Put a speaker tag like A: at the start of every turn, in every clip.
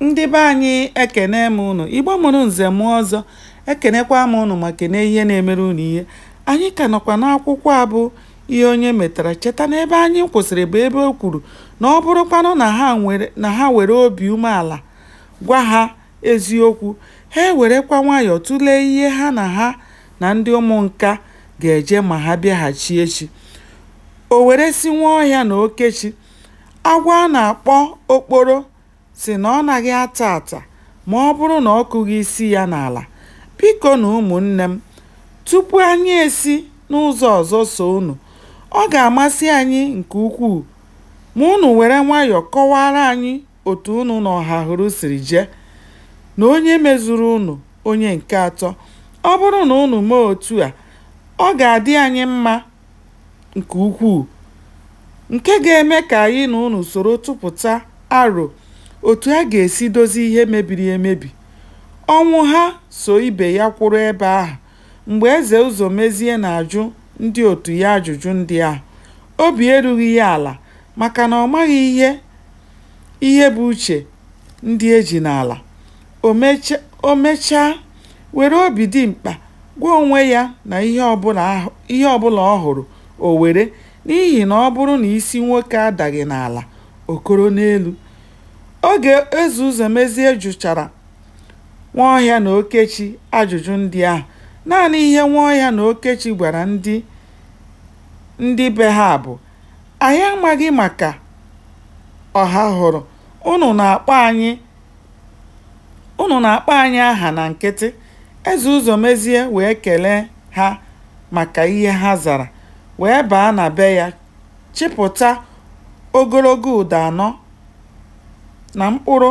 A: ndị be anyị ekene m ụnụ igbo mụrụ nze mụọ ọzọ ekenekwa m ụnụ ma kene ihe na-emere ụnụ ihe anyị ka nọkwa n'akwụkwọ a bụ ihe onye metara cheta na ebe anyị kwụsịrị bụ ebe o kwuru na ọ bụrụkwanụ na ha were obi umeala gwa ha eziokwu ha ewerekwa nwayọọ tụlee ihe ha na ha na ndị ụmụ nka ga-eje ma ha bịaghachi echi o were sị nwaọhịa na okechi Agwọ a na-akpọ okporo sị na ọ naghị ata ata ma ọ bụrụ na ọ kụghị isi ya n'ala. Bikonụ ụmụnne m, tupu anyị esi n'ụzọ ọzọ so unu, ọ ga-amasị anyị nke ukwuu ma unu were nwayọọ kọwaara anyị otu unu na Ọhahụrụ siri jee, na onye mezuru unu onye nke atọ. Ọ bụrụ na unu mee otu a, ọ ga-adị anyị mma. nke ukwuu nke ga-eme ka anyị na unu soro tụpụta aro otu a ga-esi dozie ihe mebiri emebi. Ọnwụha so ibe ya kwụrụ ebe ahụ mgbe Eze Ụzọmezie na-ajụ ndị otu ya ajụjụ ndị ahụ. Obi erughị ya ala maka na ọ maghị ihe ihe bụ uche ndị e ji n'ala. O mechaa, were obi dimkpa gwa onwe ya na ihe ọbụla ọ hụrụ, o were, n'ihi na ọ bụrụ na isi nwoke adaghị n'ala, o koro n'elu. Oge Eze Ụzọmezie jụchara Nwaọhịa na Okechi ajụjụ ndị ahụ, naanị ihe Nwaọhịa na Okechi gwara ndị be ha bụ, Anyị amaghị maka Ọhahụrụ. Unu na-akpọ anyị aha na nkịtị. Eze Ụzọmezie wee kele ha maka ihe ha zara, wee baa na be ya chịpụta ogologo ụdọ anọ na mkpụrụ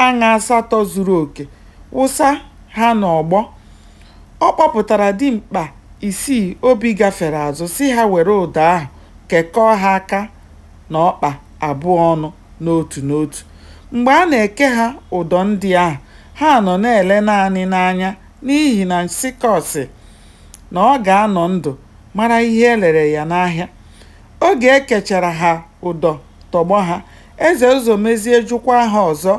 A: aṅa asatọ zuru oke, wụsa ha n'ọgbọ. Ọ kpọpụtara dimkpa isii obi gafere azụ sị ha were ụdọ ahụ kekọọ ha aka. na ọkpa abụọ ọnụ n'otu n'otu. Mgbe a na-eke ha ụdọ ndị ahụ, ha nọ na-ele naanị n'anya n'ihi na nsịkọ sị na ọ ga-anọ ndụ mara ihe e lere ya n'ahịa. Oge e kechara ha ụdọ tọgbọ ha, Eze Ụzọmezie jụkwaa ha ọzọ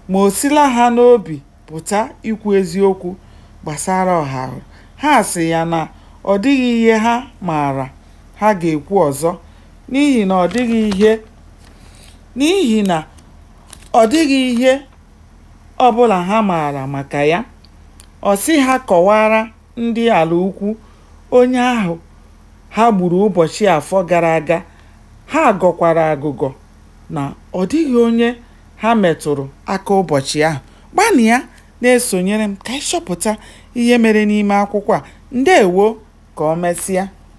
A: ma o sila ha n'obi pụta ikwu eziokwu gbasara Ọhahụrụ, ha sị ya na ọ dịghị ihe ha maara ha ga-ekwu ọzọ n'ihi na ọ dị n'ihi na ọ dịghị ihe ọ bụla ha maara maka ya. Ọ sị ha kọwaara ndị Alaukwu onye ahụ ha gburu ụbọchị Afọ gara aga, ha gọkwara agụgọ na ọ dịghị onye Ha metụrụ aka ụbọchị ahụ. Gbalịa na-esonyere m ka anyị chọpụta ihe mere n'ime akwụkwọ a. Ndewo! Ka o mesịa.